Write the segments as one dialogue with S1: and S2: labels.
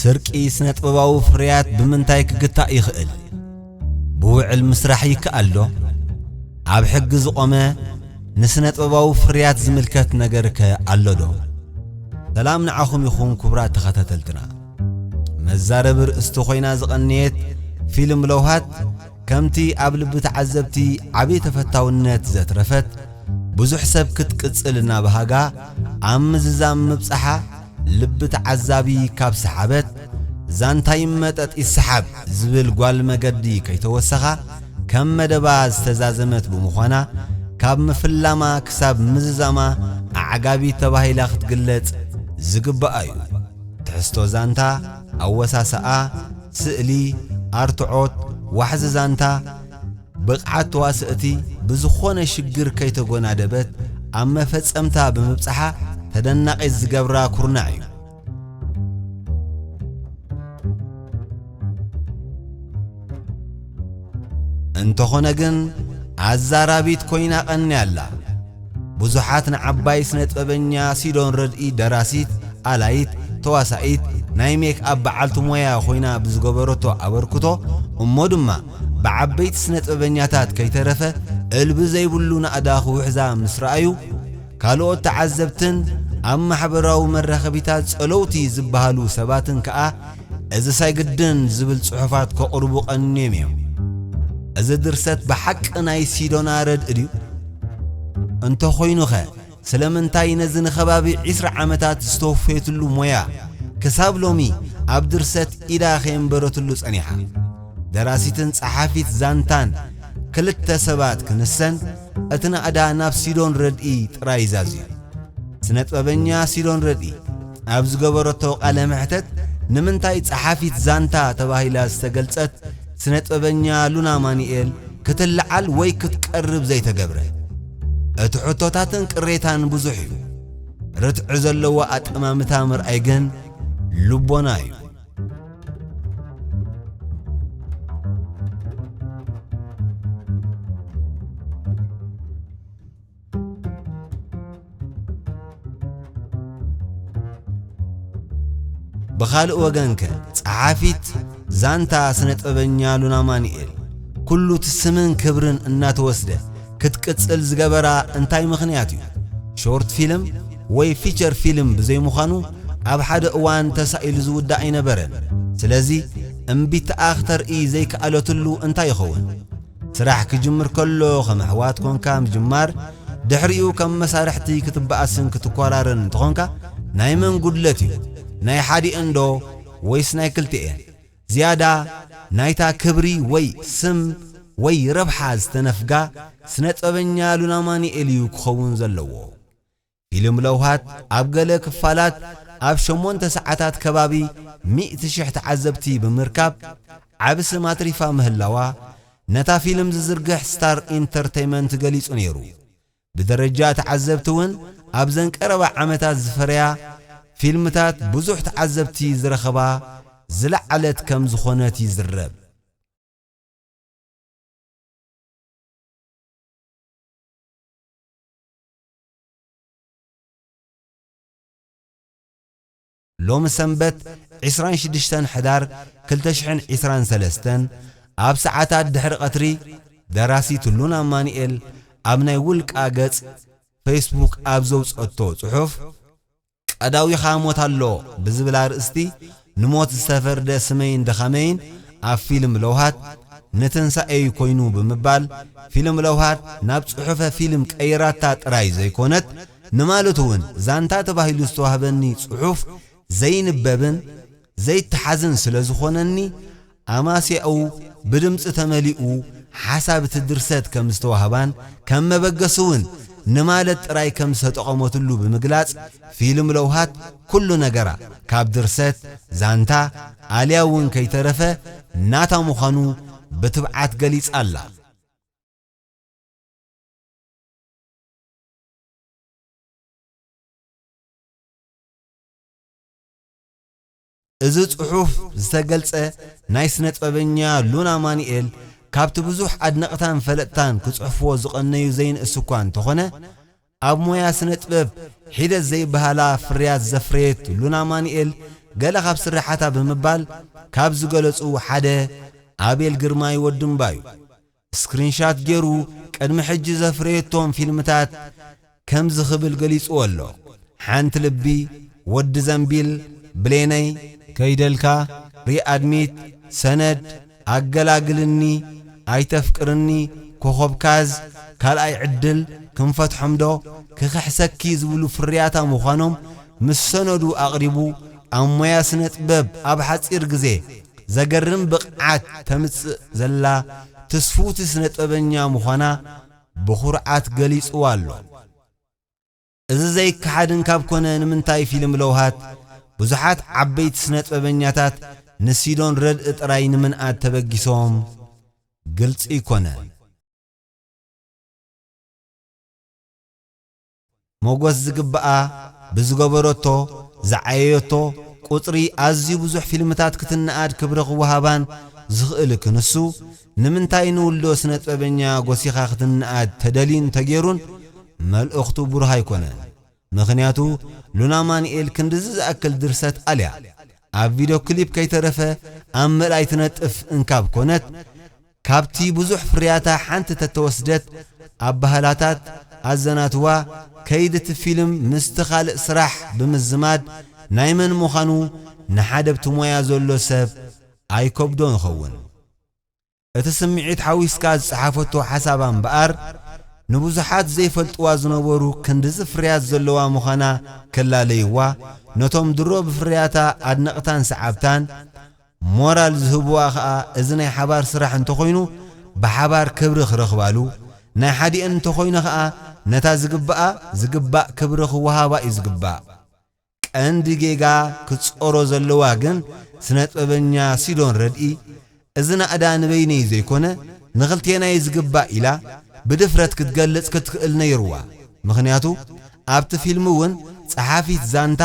S1: ስርቂ ስነጥበባዊ ፍርያት ብምንታይ ክግታእ ይኽእል? ብውዕል ምስራሕ ይከኣል ዶ? ኣብ ሕጊ ዝቖመ ንስነጥበባዊ ፍርያት ዝምልከት ነገር ከ ኣሎ ዶ? ሰላም ንዓኹም ይኹን ክቡራት ተኸታተልትና። መዛረቢ ርእስቲ ኮይና ዝቐነየት ፊልም ለውሃት ከምቲ ኣብ ልቢ ተዓዘብቲ ዓብዪ ተፈታውነት ዘትረፈት ብዙሕ ሰብ ክትቅጽል እናበሃጋ ኣብ ምዝዛም ምብጻሓ ልቢ ተዓዛቢ ካብ ሰሓበት ዛንታ ይመጠጥ ይሰሓብ ዝብል ጓል መገዲ ከይተወሰኻ ከም መደባ ዝተዛዘመት ብምዃና ካብ ምፍላማ ክሳብ ምዝዛማ ኣዕጋቢት ተባሂላ ክትግለጽ ዝግባኣ እዩ። ትሕዝቶ ዛንታ፣ ኣወሳስኣ፣ ስእሊ፣ ኣርትዖት፣ ዋሕዚ ዛንታ፣ ብቕዓት ተዋሰእቲ ብዝኾነ ሽግር ከይተጎናደበት ኣብ መፈጸምታ ብምብጽሓ ተደናቒት ዝገብራ ኩርናዕ እዩ። እንተኾነ ግን ኣዛራቢት ኮይና ቀንያ ኣላ። ብዙሓት ንዓባይ ስነጥበበኛ ሲዶን ረድኢ ደራሲት፣ ኣላይት፣ ተዋሳኢት፣ ናይ ሜክ ኣፕ በዓልቲ ሞያ ኮይና ብዝገበረቶ ኣበርክቶ እሞ ድማ ብዓበይቲ ስነጥበበኛታት ከይተረፈ እልቢ ዘይብሉ ናእዳ ክውሕዛ ምስ ረኣዩ ካልኦት ተዓዘብትን ኣብ ማሕበራዊ መራኸቢታት ጸለውቲ ዝበሃሉ ሰባትን ከኣ እዚ ሳይግድን ዝብል ጽሑፋት ከቕርቡ ቀንዮም እዮም። እዚ ድርሰት ብሓቂ ናይ ሲዶና ረድኢ ድዩ? እንተ ኾይኑኸ ስለምንታይ ነዚ ንኸባቢ ዕስራ ዓመታት ዝተወፈየትሉ ሞያ ክሳብ ሎሚ ኣብ ድርሰት ኢዳ ከየንበረትሉ ጸኒሓ? ደራሲትን ጸሓፊት ዛንታን ክልተ ሰባት ክንሰን እቲ ናእዳ ናብ ሲዶን ረድኢ ጥራይ ዛዝዩ። ስነጥበበኛ ሲዶን ረድኢ! ኣብ ዝገበረቶ ቃለ መሕተት ንምንታይ ጸሓፊት ዛንታ ተባሂላ ዝተገልጸት ስነጥበበኛ ሉና ኣማኒኤል ክትልዓል ወይ ክትቀርብ ዘይተገብረ? እቲ ሕቶታትን ቅሬታን ብዙሕ እዩ። ርትዒ ዘለዎ ኣጠማምታ ምርኣይ ግን ልቦና እዩ። ብኻልእ ወገን ከ ጸሓፊት ዛንታ ስነጥበበኛ ሉና ማኑኤል ኩሉ እቲ ስምን ክብርን እናተወስደ ክትቅጽል ዝገበራ እንታይ ምኽንያት እዩ? ሾርት ፊልም ወይ ፊቸር ፊልም ብዘይምዃኑ ኣብ ሓደ እዋን ተሳኢሉ ዝውዳእ ኣይነበረን። ስለዚ እምቢታኣ ክተርኢ ዘይከኣለትሉ እንታይ ይኸውን? ስራሕ ክጅምር ከሎ ከም ኣሕዋት ኮንካ ምጅማር ድሕሪኡ ከም መሳርሕቲ ክትበኣስን ክትኮራረን እንተኾንካ ናይ መን ጉድለት እዩ ናይ ሓዲኤን ዶ ወይስ ናይ ክልቲኤን ዝያዳ ናይታ ክብሪ ወይ ስም ወይ ረብሓ ዝተነፍጋ ስነጥበበኛ ሉናማኒኤል እዩ ክኸውን ዘለዎ ፊልም ለውሃት ኣብ ገለ ክፋላት ኣብ ሸሞንተ ሰዓታት ከባቢ ሚእቲ ሽሕ ተዓዘብቲ ብምርካብ ዓቢ ስም ኣትሪፋ ምህላዋ ነታ ፊልም ዝዝርግሕ ስታር ኢንተርተይመንት ገሊጹ ነይሩ። ብደረጃ ተዓዘብቲ ውን ኣብዘን ቀረባ ዓመታት ዝፈረያ ፊልምታት ብዙሕ ተዓዘብቲ ዝረኸባ ዝለዓለት ከም ዝኾነት ይዝረብ። ሎሚ ሰንበት ዕስራን ሽዱሽተን ሕዳር ክልተ ሽሕን ዕስራን ሰለስተን ኣብ ሰዓታት ድሕሪ ቀትሪ ደራሲት ትሉን ኣማኑኤል ኣብ ናይ ውልቃ ገጽ ፈይስቡክ ኣብ ዘውጸቶ ጽሑፍ ቀዳዊኻ ሞት ኣሎ ብዝብል ኣርእስቲ ንሞት ዝተፈርደ ስመይን ድኻመይን ኣብ ፊልም ለውሃት ንትንሳኤ'ዩ ኮይኑ ብምባል ፊልም ለውሃት ናብ ጽሑፈ ፊልም ቀይራታ ጥራይ ዘይኮነት ንማለቱ'ውን ዛንታ ተባሂሉ ዝተዋህበኒ ጽሑፍ ዘይንበብን ዘይተሓዝን ስለ ዝኾነኒ፣ ኣማስያኡ ብድምጺ ተመሊኡ ሓሳብ እቲ ድርሰት ከም ዝተዋህባን ከም መበገሲ እውን ንማለት ጥራይ ከም ዝተጠቐመትሉ ብምግላጽ፣ ፊልም ለውሃት ኩሉ ነገራ፣ ካብ ድርሰት፣ ዛንታ፣ ኣልያ እውን ከይተረፈ ናታ ምዃኑ ብትብዓት ገሊጻ ኣላ። እዚ ጽሑፍ ዝተገልጸ ናይ ስነጥበበኛ ሉና ኣማኒኤል ካብቲ ብዙሕ ኣድነቅታን ፈለጥታን ክጽሕፍዎ ዝቀነዩ ዘይንእስ እኳ እንተኾነ ኣብ ሞያ ስነጥበብ ሒደት ዘይብሃላ ፍርያት ዘፍረየት ሉና ኣማኒኤል ገለ ካብ ስርሓታ ብምባል ካብ ዝገለጹ ሓደ ኣቤል ግርማይ ወዲ እምባ'ዩ። ስክሪንሻት ጌሩ ቅድሚ ሕጂ ዘፍረየቶም ፊልምታት ከምዚ ክብል ገሊጽዎ ኣሎ፣ ሓንቲ ልቢ፣ ወዲ ዘንቢል፣ ብሌነይ፣ ከይደልካ፣ ሪኣድሚት፣ ሰነድ፣ ኣገላግልኒ፣ ኣይተፍቅርኒ፣ ኮኾብ ካዝ፣ ካልኣይ ዕድል፣ ክንፈትሖም ዶ፣ ክኽሕሰኪ ዝብሉ ፍርያታ ምዃኖም ምስ ሰነዱ ኣቕሪቡ ኣብ ሞያ ስነጥበብ ኣብ ሓጺር ግዜ ዘገርም ብቕዓት ተምጽእ ዘላ ትስፍውቲ ስነጥበበኛ ምዃና ብኹርዓት ገሊጽዋ ኣሎ። እዚ ዘይከሓድን ካብ ኮነ ንምንታይ ፊልም ለውሃት ብዙሓት ዓበይቲ ስነጥበበኛታት ንሲዶን ረድእ ጥራይ ንምንኣድ ተበጊሶም ግልጺ ኣይኮነን። ሞጎስ ዝግብኣ ብዝገበረቶ ዝዓየየቶ ቁጽሪ ኣዝዩ ብዙሕ ፊልምታት ክትነኣድ ክብሪ ክወሃባን ዝኽእል ክንሱ ንምንታይ ንውልዶ ስነጥበበኛ ጎሲኻ ክትነኣድ ተደልዩን ተጌሩን መልእኽቱ ብሩህ ኣይኮነን ምኽንያቱ ሉና ኣማኒኤል ክንድዚ ዝኣክል ድርሰት ኣልያ ኣብ ቪዶ ክሊፕ ከይተረፈ ኣብ ምርኣይ ትነጥፍ እንካብ ኮነት ካብቲ ብዙሕ ፍርያታ ሓንቲ ተተወስደት ኣባህላታት ኣዘናትዋ ከይዲ እቲ ፊልም ምስቲ ካልእ ስራሕ ብምዝማድ ናይ መን ምዃኑ ንሓደ ኣብቲ ሞያ ዘሎ ሰብ ኣይከብዶን ይኸውን። እቲ ስምዒት ሓዊስካ ዝፀሓፈቶ ሓሳባ እምበኣር ንብዙሓት ዘይፈልጥዋ ዝነበሩ ክንድዚ ፍርያት ዘለዋ ምዃና ከላለይዋ ነቶም ድሮ ብፍርያታ ኣድነቕታን ሰዓብታን ሞራል ዝህቡዋ ከኣ እዚ ናይ ሓባር ስራሕ እንተኾይኑ ብሓባር ክብሪ ክረኽባሉ፣ ናይ ሓዲኤን እንተኾይኑ ከኣ ነታ ዝግብኣ ዝግባእ ክብሪ ክወሃባ እዩ ዝግባእ። ቀንዲ ጌጋ ክትጾሮ ዘለዋ ግን ስነጥበበኛ ሲዶን ረድኢ እዚ ናእዳ ንበይነይ ዘይኮነ ንኽልቴና እዩ ዝግባእ ኢላ ብድፍረት ክትገልጽ ክትክእል ነይሩዋ። ምኽንያቱ ኣብቲ ፊልም እውን ጸሓፊት ዛንታ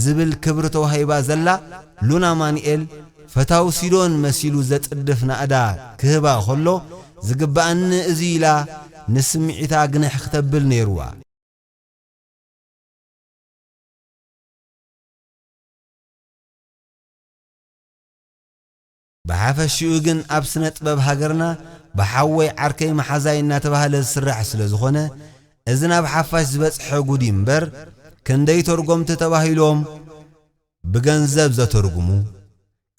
S1: ዝብል ክብሪ ተዋሂባ ዘላ ሉና ኣማኑኤል፣ ፈታው ሲዶን መሲሉ ዘጽድፍ ናእዳ ክህባ ከሎ፣ ዝግበኣኒ እዚ'ዩ ኢላ ንስምዒታ ግንሕ ክተብል ነይሩዋ። ብሓፈሽኡ ግን ኣብ ስነጥበብ ሃገርና ብሓወይ ዓርከይ መሓዛይ እናተባህለ ዝስራሕ ስለዝኾነ እዚ ናብ ሓፋሽ ዝበጽሐ ጉድ እዩ እምበር ክንደይ ተርጎምቲ ተባሂሎም ብገንዘብ ዘተርጉሙ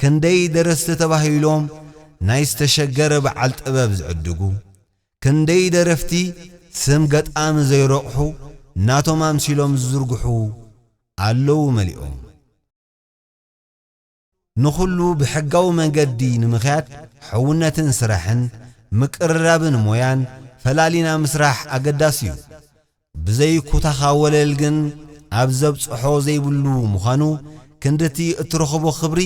S1: ክንደይ ደረስቲ ተባሂሎም ናይ ዝተሸገረ በዓል ጥበብ ዝዕድጉ ክንደይ ደረፍቲ ስም ገጣሚ ዘይረቑሑ ናቶም ኣምሲሎም ዝዝርግሑ ኣለዉ መሊኦም። ንኹሉ ብሕጋዊ መንገዲ ንምኽያድ ሕውነትን ስራሕን፣ ምቅርራብን ሞያን ፈላሊና ምስራሕ ኣገዳሲ እዩ። ብዘይ ኩታኻ ወለል ግን ኣብ ዘብጽሖ ዘይብሉ ምዃኑ፣ ክንድቲ እትረኽቦ ክብሪ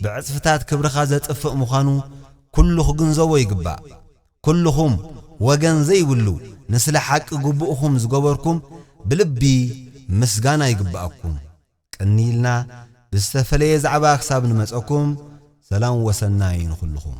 S1: ብዕጽፍታት ክብርኻ ዘጥፍእ ምዃኑ ኩሉ ክግንዘቦ ይግባእ። ኩሉኹም ወገን ዘይብሉ ንስለ ሓቂ ግቡእኹም ዝገበርኩም ብልቢ ምስጋና ይግበኣኩም። ቀንይልና ብዝተፈለየ ዛዕባ ክሳብ ንመጸኩም ሰላም ወሰናይ ንኩልኩም።